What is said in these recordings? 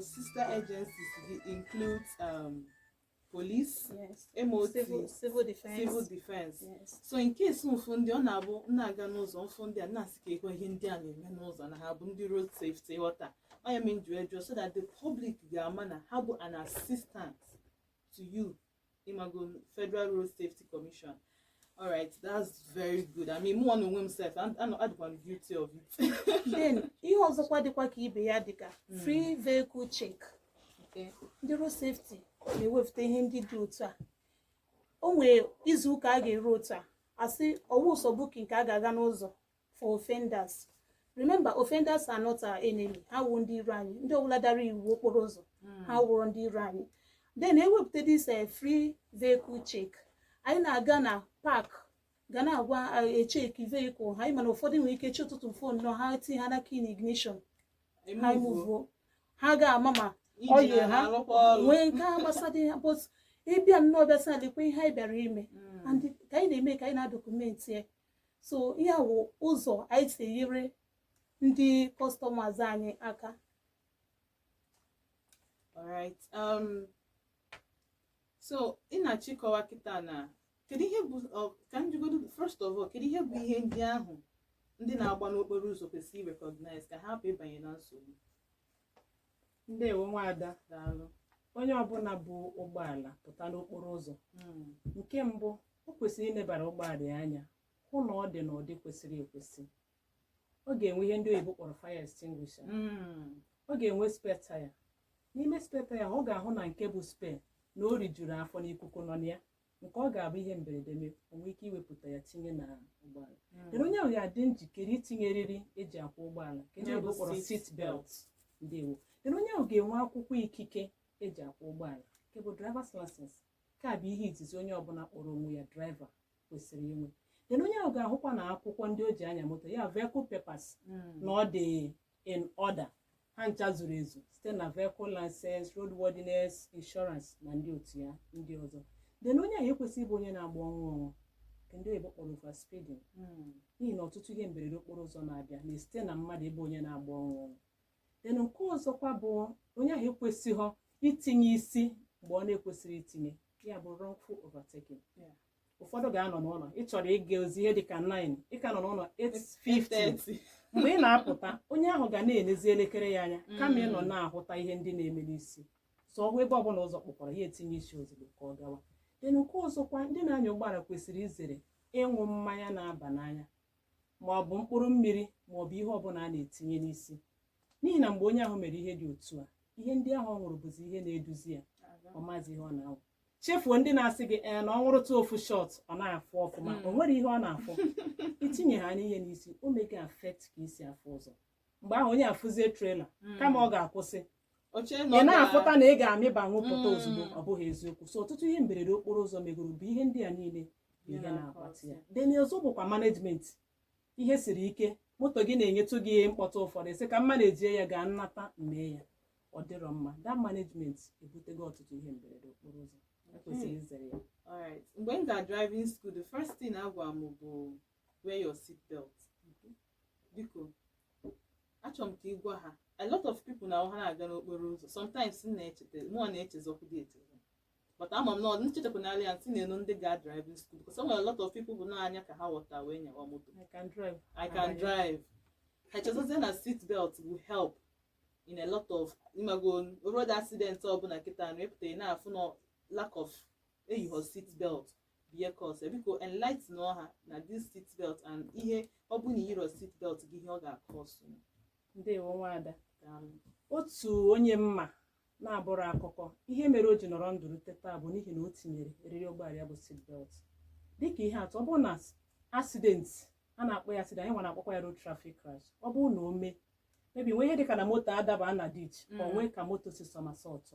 sister agencies include um, police yes. MOT civil, civil defense, civil defense. Yes. so in case m fụ ndị ọ na-abụ m na-aga n'ụzọ m fụ ndị a na-asị kekwa ihe ndị a na-eme n'ụzọ na ha bụ ndị road safety ghọta ọ nya me m ji wee jụọ so that the public ga-ama na ha bụ an assistant to you ịmago Federal Road Safety Commission all right that's very good i mean mụ nwa na onwe m sef adịkwa m guilty of it then ihe ọzọkwa dịkwa ka ibe ya dịka free vehicle check okay ndị road safety na-ewepụta ihe ndị dị otu a o nwere izu ụka a ga-eru otu a asị ọ wụghị sọ booking ka a ga-aga n'ụzọ for offenders remember offenders are not our enemy ha awụghị ndị iro anyị ndị ọbụla dara iwu okporo ụzọ ha awụrọ ndị iro anyị then ewepụta this eh, free vehicle check anyị na-aga na park ga na-agwa eh, echeki vehicle ha anyị ma na ụfọdụ nwere ike chi ụtụtụ fo nnọọ ha tinye ha n'aka in ignition ha emuvuo ha ga-ama ma engine oil ha na-arụkwa ọrụ. nwee nke a gbasara ya but ị bịa nnọọ bịa sị na lekwa ihe anyị bịara ime Mm. and ka anyị na-eme ka anyị na-adọkumenti ya so ihe a wụ ụzọ anyị si enyere ndị customers anyị aka alright um, so ị na-achọ ịkọwa kịta na kedu ihe bụ ọ- ka m jụgodu first of all kedu ihe bụ ihe ndị ahụ ndị na-agba n'okporo ụzọ kwesịrị ịrecognize ka ha hapụ ịbanye na nsogbu ndewo nwaada daalụ onye ọbụla bu ụgbọala pụta n'okporo ụzọ hmm. nke mbụ o kwesịrị ilebara ụgbọala ya anya hụ na ọ dị n'ụdị kwesịrị ekwesị ọ ga-enwe ihe ndị oyibo kpọrọ fire extinguisher hmm. ọ ga-enwe spare taya n'ime spare taya ọ ga-ahụ na nke bụ spare na o rijuru afọ na ikuku nọ na ya nke ọ ga-abụ ihe mberede mee o nwee ike iwepụta ya tinye na ụgbọala then onye ahụ ga-adị njikere itinye eriri eji akwọ ụgbọala nke ndị Ya bụ oyibo kpọrọ seat seat belt ndewo then onye ahụ ga-enwe akwụkwọ ikike eji akwọ ụgbọala nke bụ driver's license nke a bụ ihe izizi onye ọbụla kpọrọ onwe ya driver kwesịrị inwe then onye ahụ ga-ahụkwa na akwụkwọ ndị o ji anya moto ya vehicle papers na ọ dị in order ha ncha zuru ezu site na vehicle license roadworthiness insurance na ndị otu ya ndị ọzọ then onye ahụ ekwesịghị ịbụ onye na-agba ọnwụ ọnwụ nke ndị oyibo kpọrọ over speeding n'ihi na ọtụtụ ihe mberede okporo ụzọ na-abịa na-esite na mmadụ ịbụ onye na-agba ọnwụ ọnwụ then nke ọzọkwa bụ onye ahụ ekwesịghị itinye isi mgbe ọ na-ekwesịghị itinye ya bụ wrongful overtaking Yeah. ụfọdụ ga-anọ n'ụlọ ị chọrọ ịga ozi ihe dịka 9 ị ka nọ n'ụlọ 8:50 mgbe ị na-apụta onye ahụ ga na-enezi elekere ya anya kama ị nọ na-ahụta ihe ndị na-eme n'isi so ọ hụ ebe ọbụla ụzọ kpọkwara ya etinye isi ozugbo ka ọ gawa then nke ọzọkwa ndị na-anya ụgbọala kwesịrị izere ịṅụ mmanya na-aba n'anya ma ọ bụ mkpụrụ mmiri ma ọ bụ ihe ọbụla a na-etinye n'isi n'ihi na mgbe onye ahụ mere ihe dị otu a ihe ndị ahụ ọ ṅụrụ bụzi ihe na-eduzi ya ọ mazi ihe ọ na-awụ chefuo ndị na-asị gị ee na ọ ṅụrụtụ ofu shot ọ na-afụ ọfụma Mm. o nwerọ ihe ọ na-afụ itinye ha n'ihe n'isi o mega affect ka i si afụ ụzọ mgbe ahụ onye afụzie trailer kama ọ ga-akwụsị o chee na ị ọ na-afụta na ị ga-amịba wụpụta Mm. ozugbo ọ bụghị eziokwu so ọtụtụ ihe mberede okporo ụzọ megoro bụ ihe ndị a niile bụ ihe na-akpata ya then ọzọ bụkwa management ihe siri ike moto gị na-enyetụ gị mkpọtụ ụfọdụ sị ka m manejie ya gaa m nata m mee ya ọ dịrọ mma that management ebutego ọtụtụ ihe mberede okporo ụzọ e kwesịrị izere ya Alright. Mgbe m ga driving school, the first thing a gwara m bụ wear your seat belt. Biko, achọrọ m ka ị gwa ha. A lot of people na ha na-aga n'okporo ụzọ. Sometimes m na-echeta, mụwa na-echezọkwụdị echezọ. but ama m na ọ nchetakwa n'ala ya ntị na-enu ndị ga driving school because o nwere a lot of people bụ n'anya ka ha ghọta wee nyawa moto I can drive. I can Abanye. drive. i chezọzie na seat belt will help in a lot of ị mago road accident ọbụla kịta na ịpụta ị na-afụ na lack of eyighọ seat belt bụ ihe cause biko enlighten ọha na this seat belt and ihe ọ bụ na i yirọ seat belt gị ihe ọ ga-akọsụ Ndewo nwaada. daalụ otu onye m ma na-abụrụ akụkọ ihe mere o ji nọrọ ndụ rute taa bụ n'ihi na o tinyere eriri ụgbọala ya bụ seatbelt dịka ihe atụ ọ bụrụ na accident a na-akpọ ya accident anyị nwa na-akpọkwa ya road traffic crash ọ bụrụ na o mee maybe nwee ihe dịka na moto adaba na ditch o nwee ka moto si somersault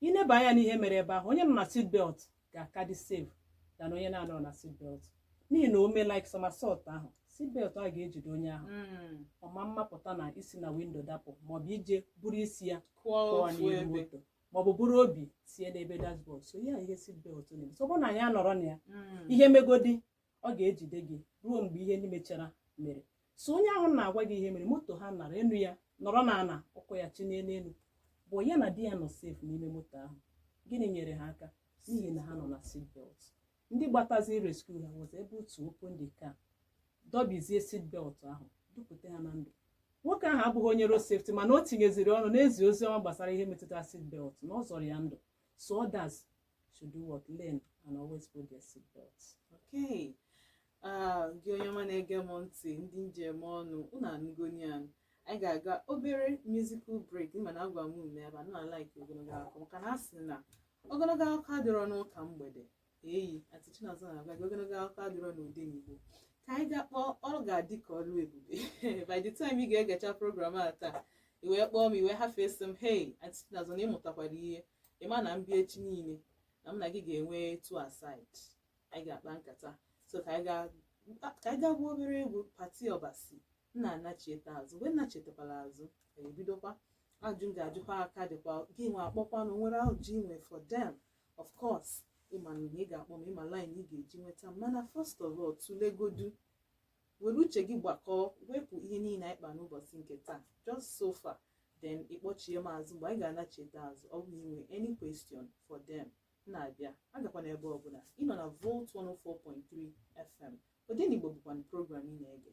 i neba anya n'ihe mere ebe ahụ onye nọ na seatbelt ga-aka dị safe than onye na-anọrọ na seat belt n'ihi na o mee like somersault ahụ seat belt ahụ ga-ejide onye ahụ Mm. ọ ma mapụta na isi na window dapụ maọbụ ije buru isi ya kụọ pụọ ofu n'ihu ebe moto maọbụ buru obi tie n'ebe dashboard so ya ihe seat belt na-eme so ọ bụrụ na anyị nọrọ na ya Mm. ihe megodi ọ ga-ejide gị ruo mgbe ihe ndị mechara mere so onye ahụ na-agwa gị ihe mere moto ha nara enu ya nọrọ na ana ụkwụ ya chinye n'elu bụ ya na di ya nọ safe n'ime moto ahụ gịnị nyere ha aka n'ihi na ha nọ na seatbelt ndị gbatazi rescue ha was able to open the car dọbizie seatbelt ahụ dupụta ha na ndụ nwoke ahụ abụghị onye road safety mana o tinyeziri ọnụ n'izi ozi ọma gbasara ihe metụtara seatbelt na ọ zọrọ ya ndụ so others to do what learn and always put their seat belts okay ah, gị onye ọma na-ege m ntị ndị m ji eme ọnụ unu anụgo ya anyị ga-aga obere musical break mana agwa m unu ebe na like ogologo akụkọ maka na a sị na ogologo akụkọ adịrọ n'ụka mgbede eyi anti chinazọ na-agwa gị ogologo akụkọ adịrọ n'odenigbo ka anyị ga kpọọ ọ ga-adị ka ọrụ ebube by the time ị ga-egecha program a taa i wee kpọọ m i wee hafee sị m hey anti chinazọ na ị mụtakwara ihe ị ma na m bịa echi niile na m na gị ga-enwe two aside anyị ga-akpa nkata so ka anyị ga- ka anyị ga gwuo obere egwu patty obasi m na-anachieta azụ mgbe m nachetakwala azụ anyị ebidokwa ajụ m ga-ajụkwa ha ka dịkwa gị nwa akpọkwa na o nwere ajụ i nwe for them of course ị ma na ị ga-akpọ m ị ma line ị ga-eji nweta m mana first of all tụlegodu were uche gị gbakọọ wepụ ihe niile anyị kpa n'ụbọchị nke taa just so far then ị kpọchie m azụ mgbe anyị ga-anachite azụ ọ bụ i nwe any question for them na-abịa agakwana ebe ọbụla ị nọ na volt 104.3 fm odenigbo bụkwanụ program ị na-ege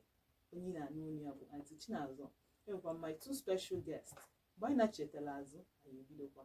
onye ị na-anụ onu ya bụ anti chinazọ enwekwa m my two special guests mgbe anyị nachetala azụ anyị ebidokwa